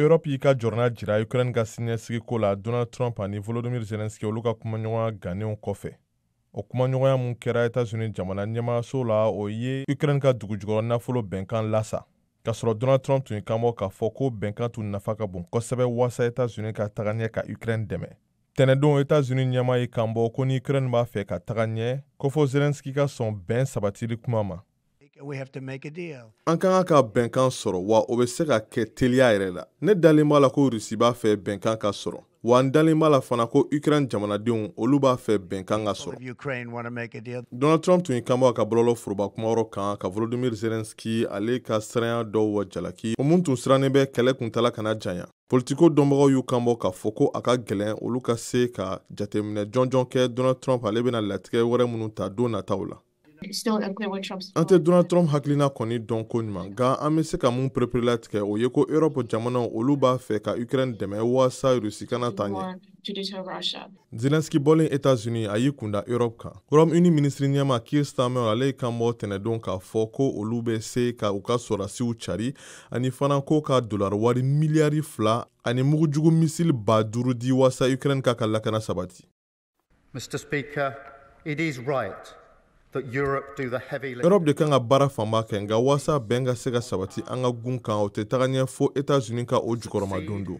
Europe y'i ka jɔrɔna jira Ukraine ka siniɲɛsigiko la Donald Trump ani Volodymyr Zelensky olu ka kumaɲɔgɔnya gannenw kɔfɛ. O kumaɲɔgɔnya mun kɛra Etats-Unis jamana ɲɛmaayaso la, o ye Ukraine ka dugujukɔrɔ nafolo bɛnkan lasa. K'a sɔrɔ Donald Trump tun y'i kanbɔ k'a fɔ ko bɛnkan tun nafa ka bon kosɛbɛ waasa Etats-Unis ka taga ɲɛ ka Ukraine dɛmɛ. Tɛnɛdon Etats-Unis ɲɛmaa y'i kanbɔ ko ni Ukraine b'a fɛ ka taga ɲɛ, ko fo Zelensky ka sɔn bɛn sabatili kuma ma. An ka kan ka bɛnkan sɔrɔ, wa o bɛ se ka kɛ teliya yɛrɛ la. Ne dalen b'a la ko Russie b'a fɛ bɛnkan ka sɔrɔ, wa n dalen b'a la fana ko Ukraine jamanadenw olu b'a fɛ bɛnkan ka sɔrɔ. Donald Trump tun y'i kanbɔ a ka bɔlɔlɔ foroba kumayɔrɔ kan ka Volodymyr Zelensky ale ka siranya dɔw jalaki, o mun tun sirannen bɛ kɛlɛ kuntaala kana janya. politiko dɔnbagaw y'u kanbɔ k'a fɔ ko a ka gɛlɛn olu ka se ka jateminɛ jɔnjɔn kɛ donald trump ale bɛna latigɛ wɛrɛ minnu ta don nataw la an tɛ donald trump hakilina kɔni dɔn koɲuman nka an bɛ se ka mun pereperelatigɛ o ye ko europe jamanaw olu b'a fɛ ka ukraine dɛmɛ waasa rusi kana ta ɲɛ Zelensky bɔlen États-Unis a y'i kunda Europe kan. Royaume-Uni minisiri ɲɛmaa Keir Starmer ale y'i kanbɔ tɛnɛdon k'a fɔ ko olu bɛ se ka u ka sɔrɔdasiw cari ani fana ko ka dolari wari miliyari fila ani mugujugu misili ba duuru di waasa Ukraine k'a ka lakana sabati. Mr. Speaker, it is right Europe de kan ka baara fanba kɛ nka waasa bɛn ka se ka sabati an ka gun kan o tɛ taga ɲɛ fo États-Unis ka o jukɔrɔmadon don.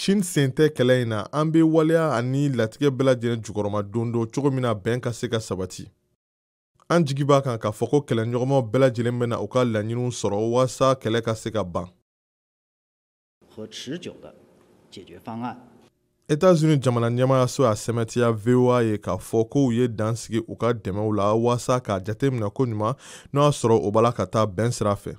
Chine sen tɛ kɛlɛ in na an bɛ waleya ani latigɛ bɛɛ lajɛlen jukɔrɔma don don cogo min na bɛn ka se ka sabati an jigi b'a kan k'a fɔ ko kɛlɛɲɔgɔnmaw bɛɛ lajɛlen bɛna u ka laɲiniw sɔrɔ waasa kɛlɛ ka se ka ban Etats-Unis jamana ɲɛmaayaso y'a sɛmɛtiya VOA ye k'a fɔ ko u ye dan sigi u ka dɛmɛw la waasa k'a jateminɛ koɲuman n'o y'a sɔrɔ o b'a la ka taa bɛn sira fɛ